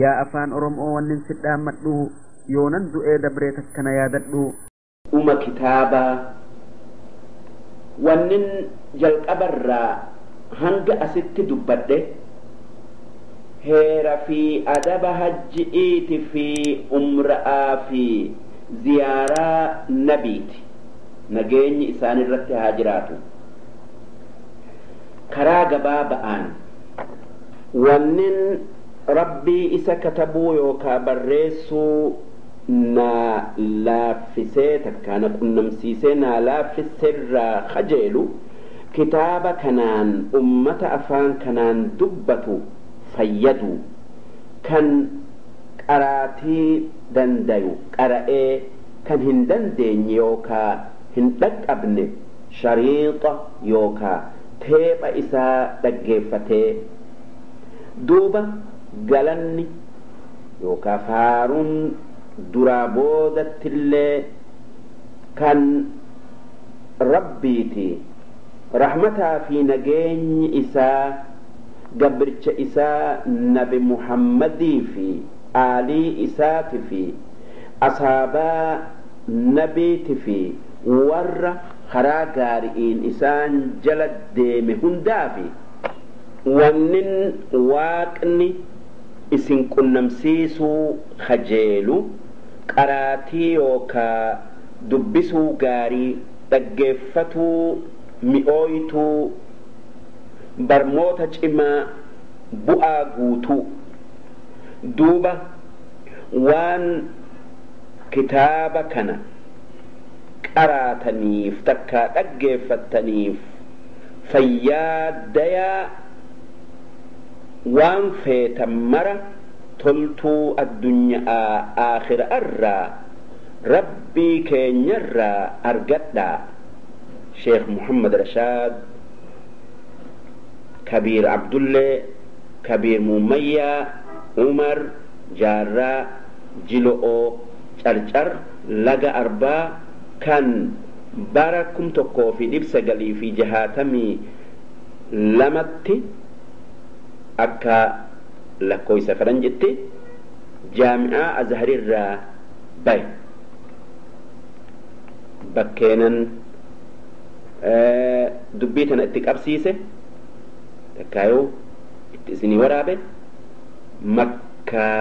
Yaa afaan orom'oo wannin si dhaammadhu yoonan du'ee dabree takka na yaadadhu. Uma kitaabaa wannin jalqaba irraa hanga asitti dubbadhe heera fi adaba hajji'iiti fi umra'aa fi ziyaaraa nabiiti nageenyi isaan irratti haa jiraatu karaa gabaaba'aan Wannin Rabbii isa katabuu yookaa barreessuu naa laaffisee takkaa na qunnamsiisee naa laaffisserraa kajeelu kitaaba kanaan ummata afaan kanaan dubbatu fayyaduu, kan qaraatii dandayu qara'ee kan hin dandeenye yookaa hin dhaqqabne shariixa yookaa teepha isaa dhaggeeffatee duuba galanni yookaa faaruun duraa boodattillee kan Rabbiiti, rahmataa fii nageenyi isaa gabrcha isaa nabi Muhammadii fii aalii isaatifii asaabaa nabiitifii warra. karaa gaari'iin isaan jala deeme hundaa fi wannin Waaqni isin qunnamsiisuu kajeelu qaraatii yookaa dubbisuu gaarii, dhaggeeffatuu mi'ooytuu, barmoota cimaa bu'aa guutuu. Duuba waan kitaaba kana. qaraataniif takkaa dhaggeeffattaniif fayyaa dayaa waan feetan mara toltuu addunya'aa aakhira'arraa Rabbii keenyarraa argadhaa Sheekh Muhammad Rashaad Kabiir Abdullee Kabiir Muummayyaa Umar Jaarraa Jilo'oo Carcar Laga Arbaa kan bara 1962tti akka lakkooysa faranjitti jaami'aa Azharirraa bahe. Bakkeenan dubbii tana itti qabsiise takkaayuu itti isinii waraabe Makkaa.